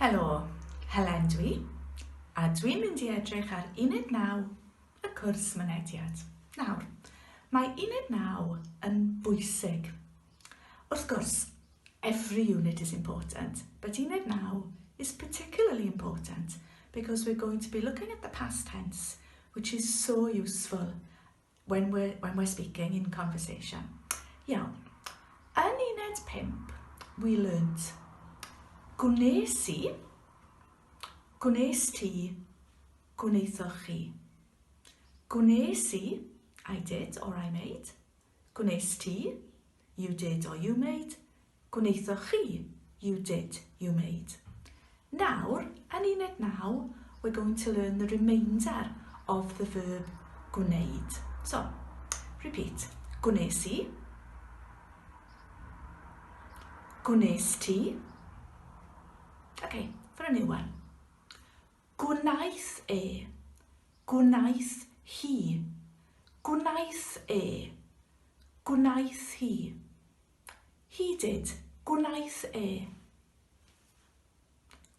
Helo, Helen dwi, a dwi'n mynd i edrych ar uned 9 y cwrs mynediad. Nawr, mae uned 9 yn bwysig. Wrth gwrs, every unit is important, but uned 9 is particularly important because we're going to be looking at the past tense, which is so useful When we're, when we're speaking in conversation. Iawn. Yn uned 5, we learnt gwnes i, gwnes ti, gwneithoch chi. Gwnes i, I did or I made. Gwnes ti, you did or you made. Gwnaethoch chi, you did, you made. Nawr, yn uned naw, we're going to learn the remainder of the verb gwneud. So, repeat. Gwnes i. Gwnes ti. Okay, for a new one. Gwnaeth e. Gwnaeth hi. Gwnaeth e. Gwnaeth hi. Hidid, gwnaeth e.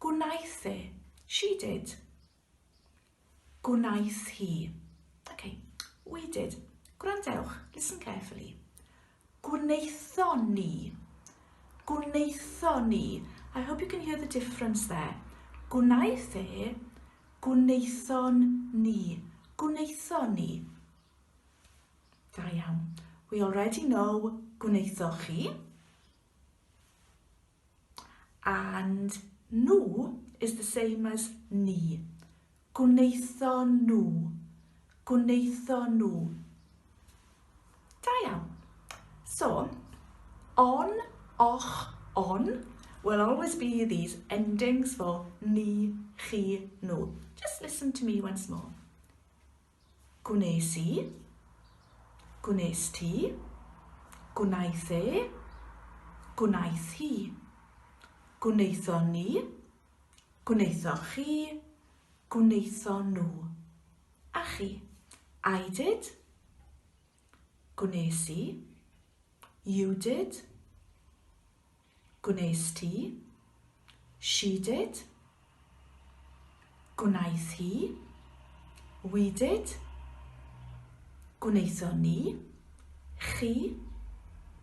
Gwnaeth e, she did. Gwnaeth hi. Ok, we did. Gwrandewch, listen carefully. Gwnaethon ni. Gwnaethon ni. I hope you can hear the difference there. Gwnaeth e, gwnaethon ni. Gwnaethon ni. Da iawn. We already know gwnaethoch chi. And nhw is the same as ni. Gwnaetho nhw. Gwnaetho nhw. Da iawn. So, on, och, on will always be these endings for ni, chi, nhw. Just listen to me once more. Gwnes i. Gwnes ti. Gwnaeth e. Gwnaeth hi. Gwnaethon ni. Gwnaethoch chi. Gwnaethon nhw. A chi. I did. Gwnes i. You did. Gwnes ti. She did. Gwnaeth hi. We did. Gwnaethon ni. Chi.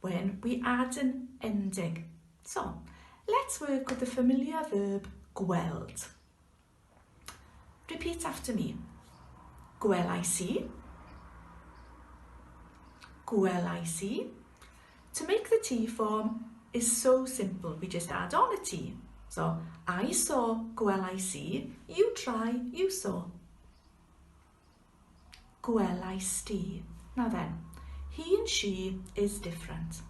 When we add an ending. So, let's work with the familiar verb gweld. Repeat after me. Gwelais i. Gwelais i. To make the T form is so simple. We just add on a T. So, I saw, gwelais i. You try, you saw. Gwelais di. Na then. He and she is different.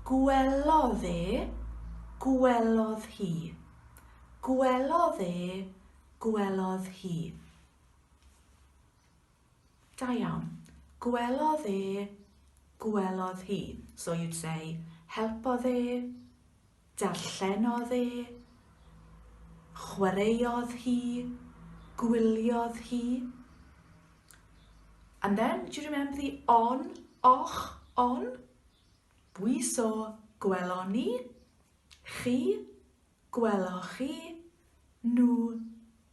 Gwelodd e. Gwelodd hi. Gwelodd e. Gwelodd hi. Da iawn. Gwelodd e. Gwelodd hi. So you'd say, helpodd e. Darllenodd e, chwaraeodd hi, gwyliodd hi. And then, do you remember the on, och, on? We saw, gwelon ni, chi, gweloch chi, nhw,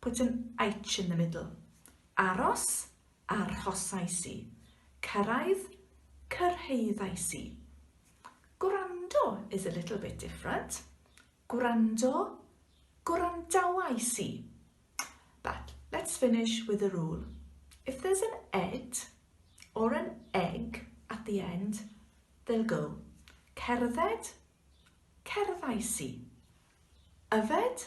put an H in the middle, aros, arhosais i, cyrraedd, cyrhaeddais i. Gwrando is a little bit different, gwrando, gwrandawais i. But let's finish with a rule. If there's an ed or an egg at the end, they'll go. Cerdded, cerddais i. Yfed,